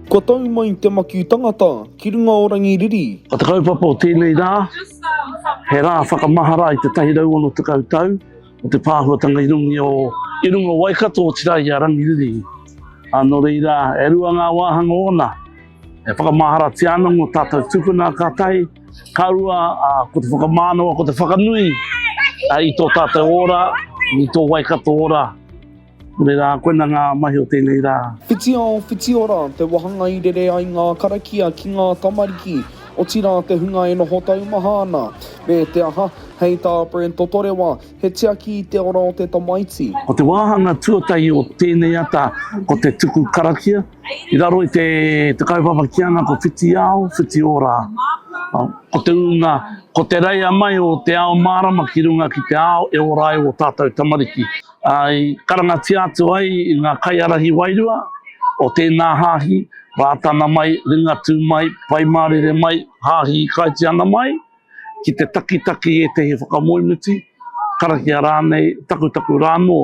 Kua tau mai te makiu tangata ki runga o Rangiriri. Ko te kaupapa o tēnei rā, he rā whakamahara i te 160 tau o te pāhuatanga i runga o. I runga o Waikato otirā i a Rangiriri. Ā, nō reira, e rua ngā wāhanga ōna. E whakamaharatia ana ngō tātou tūpuna ka tahi. Ka rua, ko te whakamānawa, ko te whakanui i tō tātou ora, i tō Waikato ora. Nō reira, koina ngā mahi o tēnei rā. Whiti ao, whiti ora, te wahanga i rere ai ngā karakia ki ngā tamariki, otirā te hunga e noho taumaha ana. Me te aha, hei tā Brent Totorewa, He tiaki i te ora o te tamaiti. Ko te wāhanga tuatahi o tēnei ata ko te tuku karakia. I raro i te kaupapa ki ana ko Whiti Ao, Whiti Ora. Ko te ūnga, ko te reia mai o te ao mārama ki runga ki te ao e ora ai ō tātou tamariki. I karangatia atu ai i ngā kaiārahi wairua o tēnā hāhi, Rātana mai, Ringatū mai, Pai Mārire mai, Hāhi Kaitiana mai. ki te takitaki i ētehi whakamoemiti, karakia rānei, takutaku rānō,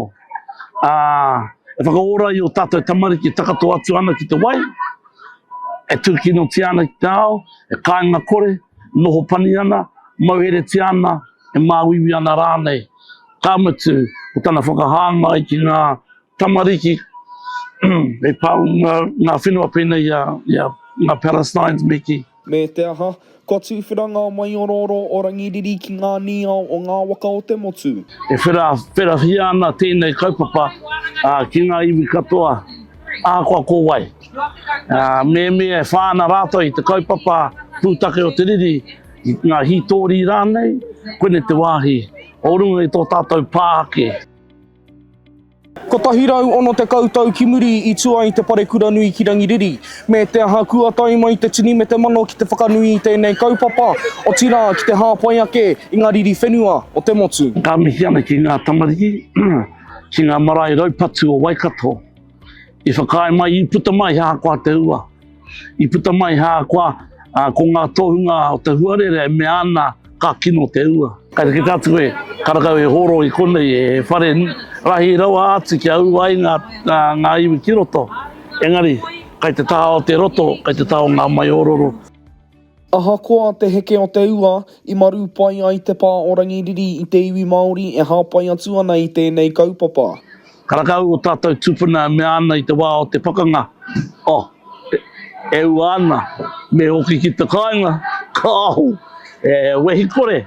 ā, e whakaora i ō tātou tamariki e takato atu ana ki te wai, e tūkinotia ana ki te ao, e kāinga kore, e noho pani ana, mauheretia ana, e māuiui ana rānei. Ka mutu, ko tana whakahāngai ki ngā tamariki hei pānga, ngā whenua pēnei i a, i a ngā Palestines me kī. Me te aha, kua tūwhera ngā waiorōrō o Rangiriri ki ngā nīao o ngā waka o te motu. E wherawherahia ana tēnei kaupapa ki ngā iwi katoa, ahakoa ko wai. Mēnā e whā ana rātou i te kaupapa pūtake o te riri, i ngā hītori rānei, koinei te wāhi o runga i tō tātou pā ake. 160 tau ki muri i tua ai te parekura nui ki Rangiriri. Me te aha kua tae mai te tini me te mano ki te whakanui i tēnei kaupapa, otirā ki te hāpai ake i ngā riri whenua o te motu. Ka mihi ana ki ngā tamariki, ki ngā marae raupatu o Waikato i whakaae mai, i puta mai he ahakoa te ua. I puta mai hā koa, ā, ko ngā tohunga o te huarere e mea ana ka kino te ua. Ka rite kē atu koe, karakau e horo i konei, he whare rahi rawa atu kia ū ai ngā, ngā iwi ki roto. Engari, kai te taha o te roto, kai te taha o ngā maiōroro. Ahakoa te heke o te ua, i marū pai ai te pā o Rangiriri i te iwi Māori e hāpai atu ana i tēnei kaupapa. Karakau o tātou tupuna e mea ana i te wā o te pakanga, oh, e ua ana, me hoki ki te kāinga, kāho, e wehi kore.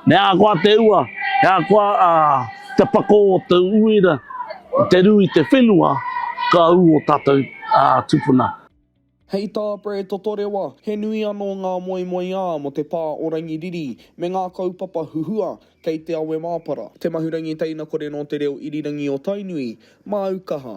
Me ahakoa te ua, he ahakoa te pako o te uira, te rū i te whenua, ka ū o tātou tupuna. Hei tā Brad Totorewa, he nui anō ngā moemoeā mō te pā o Rangiriri me ngā kaupapa huhua kei te awe māpara. Te mahurangi teina kore nō te reo irirangi o Tainui, māu kaha.